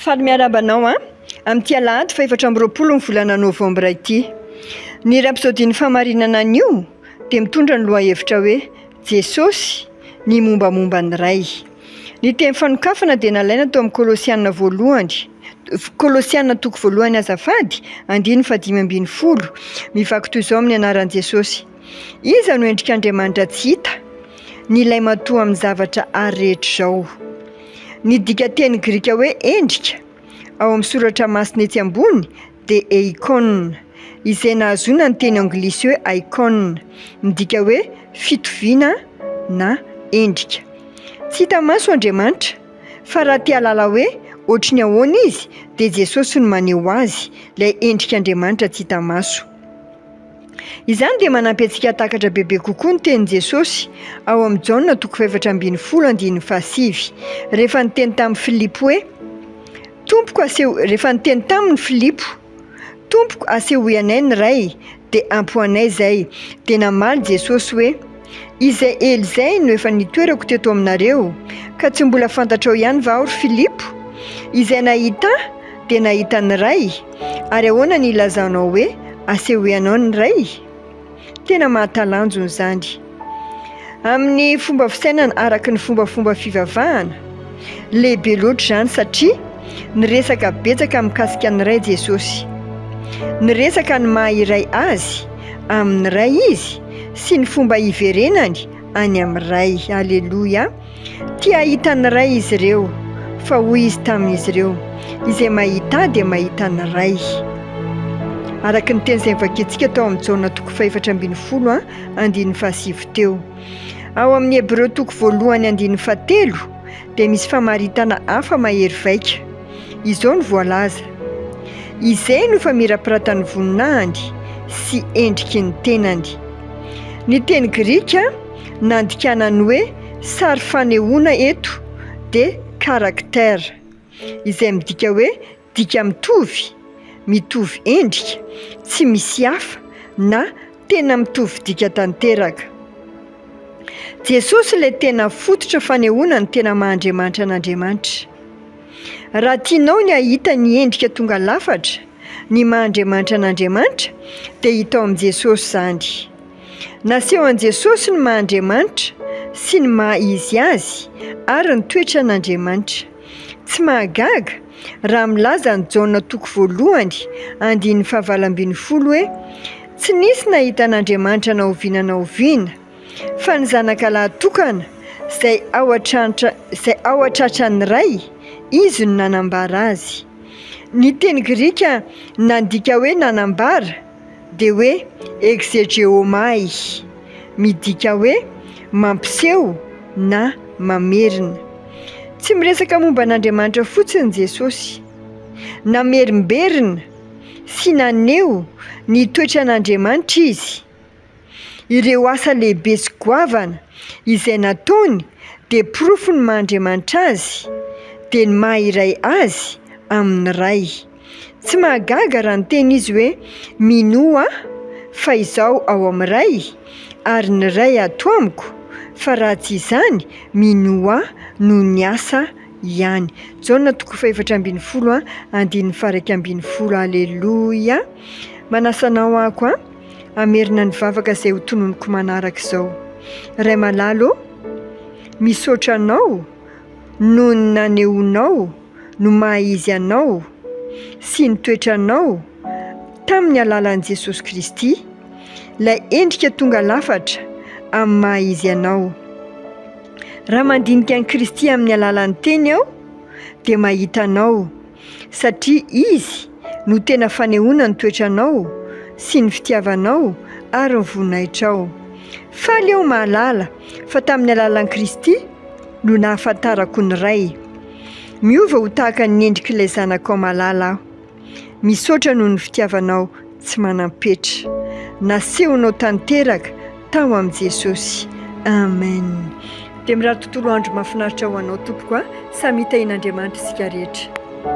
Faly miarahaba anao an! Amin'ity alahady fahefatra amby roapolo ny volana novambra ity. Ny iray episodin'ny fahamarinana anio dia mitondra ny lohahevitra hoe Jesosy, ny mombamomba ny Ray. Ny teny fanokafana dia nalaina tao amin'ny Kolosiana voalohany Kolosiana toko voalohany azafady, andininy fahadimy ambin'ny folo. Mivaky toy izao amin'ny anaran'i Jesosy. Iza no endrik'Andriamanitra tsy hita? Ny Ilay Matoa amin'ny zavatra àry rehetra izao. Ny dikanteny grika hoe endrika, ao amin'ny Soratra Masina etsy ambony, dia eikon, izay nahazoana ny teny anglisy hoe icon, midika hoe fitoviana na endrika. Tsy hita maso Andriamanitra. Fa raha te hahalala hoe hoatry ny ahoana izy, dia Jesosy no maneho azy, ilay endrik'Andriamanitra tsy hita maso. Izany dia manampy antsika hahatakatra bebe kokoa ny tenin'i Jesosy ao amin'i Jaona toko fahefatra ambin'ny folo andininy fahasivy, rehefa niteny tamin'i Filipo hoe, Tompoko aseho, rehefa niteny taminy Filipo, Tompoko, asehoy anay ny Ray, dia ampy ho anay izay. Dia namaly Jesosy hoe. Izay ela izay no efa nitoerako teto aminareo, ka tsy mbola fantatrao ihany va aho, ry Filipo? Izay nahita Ahy dia nahita ny Ray, ary ahoana ny ilazanao hoe asehoanao ny Ray? Tena mahatalanjona izany amin'ny fomba fisainana araka ny fombafomba fivavahana. Lehibe loatra izany satria niresaka betsaka mikasika ny Ray Jesosy. Niresaka ny maha iray Azy amin'ny Ray Izy sy ny fomba hiverenany any amin'ny Ray. Aleloia! Tia hahita ny Ray izy ireo, fa hoy Izy tamin'izy ireo, Izay mahita Ahy dia mahita ny Ray. Araka ny teny izay novakintsika tao amin'ny Jaona toko fahefatra ambin'ny folo andininy fahasivy teo. Ao amin'ny Hebreo toko voalohany andininy fahatelo dia misy famaritana hafa mahery vaika. Izao no voalaza, Izay no famirapiratan'ny voninahiny sy endriky ny tenany. Ny teny grika nandikana ny hoe sary fanehoana eto dia karakter, izay midika hoe Dika mitovy, mitovy endrika, tsy misy hafa na tena mitovy dika tanteraka. Jesosy ilay tena fototra fanehoana ny tena maha Andriamanitra an'Andriamanitra. Raha tianao ny hahita ny endrika tonga lafatra ny maha Andriamanitra an'Andriamanitra dia hita ao amin'i Jesosy izany. Naseho an'i Jesosy ny maha Andriamanitra sy ny maha izy azy ary ny toetran'Andriamanitra. Tsy mahagaga raha milaza an'i Jaona toko voalohany andininy fahavalo ambin'ny folo hoe, Tsy nisy nahita an'Andriamanitra na oviana na oviana, fa ny zanaka lahy tokana, izay ao an-trano, izay ao an-tratran'ny Ray, Izy no nanambara azy. Ny teny grika nandika hoe nanambara dia hoe Exegéomai, midika hoe mampiseho na mamerina. Tsy miresaka momba an'Andriamanitra fotsiny Jesosy. Namerimberina sy naneho ny toetran'Andriamanitra izy. Ireo asa lehibe sy goavana izay nataony dia porofo ny maha Andriamanitra Azy dia ny maha iray Azy amin'ny Ray. Tsy mahagaga raha niteny Izy hoe, Mino Ahy fa Izaho ao amin'ny Ray, ary ny Ray ato amiko, fa raha tsy izany, mino Ahy noho ny asa ihany. Jaona toko fahefatra ambin'ny folo andininy faha iraika ambin'ny folo Aleloia! Manasa anao aho koa. Hamerina ny vavaka izay ho tononiko manaraka izao. Ray malala ô, misaotra Anao noho ny nanehoanao no maha-izy Anao sy ny toetranao tamin'ny alalan'i Jesosy Kristy, ilay endrika tonga lafatra amin'ny maha-izy Anao. Raha mandinika an'i Kristy amin'ny alalan'ny Teny aho, dia mahita Anao. satria Izy no tena fanehoana ny toetranao sy ny fitiavanao ary ny voninahitrao. Faly aho mahalala fa tamin'ny alalan'i Kristy no nahafantarako ny Ray. Miova ho tahaka ny endrik'ilay Zanakao malala aho. Misaotra noho ny fitiavanao. tsy manam-petra. Nasehonao tanteraka tao amin'i Jesosy. Amen. Dia mirary tontolo andro mahafinaritra ho anao tompoko a. Samy hitahian'Andriamanitra isika rehetra.